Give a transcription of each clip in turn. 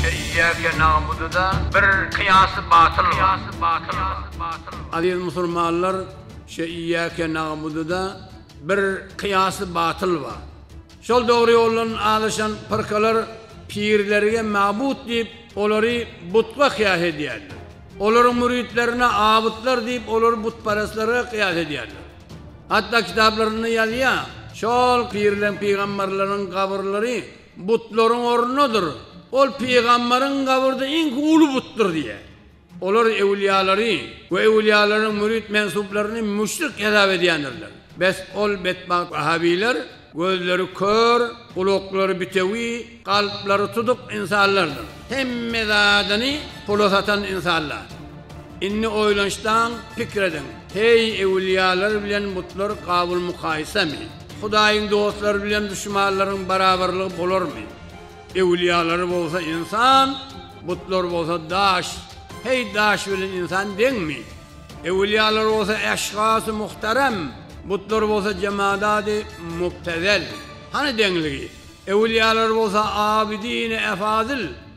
Şeýdýärkä Namudyda bir kyýasy batyl bar. Aziz musulmanlar, şeýdýärkä Namudyda bir kyýasy batyl bar. Şol dogry ýoldan azaşan pyrkalar pirlerige mabut diýip, olary butga kyýas edýärler. Olaryň müritlerine abytlar diýip, olary butparazlarga kyýas edýärler. Hatda kitaplarynda ýazýar, Şol pirleň, pygamberleriň gabyrlary Butlaryň ornudyr. Ol pygamberiň gabrdy iňki uly butdyr diýýär. Olar ewliýalary we ewliýalaryň mürit mensuplaryny müşrik hesap edýändirler. Bes ol betbagt wahabiler gözleri kör, gulaklary bitewi, kalplary tutuk insanlardyr. Hemme zadyny pula satan insanlar. Indi oýlanyşdan pikir ediň, heý ewliýalar bilen butlar gabyl mukaýysamy? Hudaýyň dostlary bilen duşmanlaryň barabarlygy bolarmy? Ewliýalary bolsa ynsan, butlar bolsa daş. Heý, daş bilen ynsan deňmi? Ewliýalar bolsa eşhasy muhterem, butlar bolsa jemadaty mubtezel. Hany deňligi? Ewliýalar bolsa abydyny efazyl.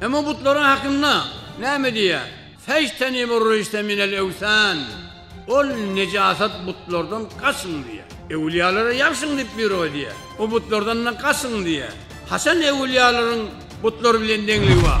Emma butlaryň hakynda näme diýýär? Fejtenibu rüjse minel ewsan, Ol nejasat butlardan gaçyň diýýär. Öwülýalara ýabşyň diýip buýruk edýär. O butlardan-da gaçyň diýýär. Haçan öwülýalaryň butlar bilen deňligi bar?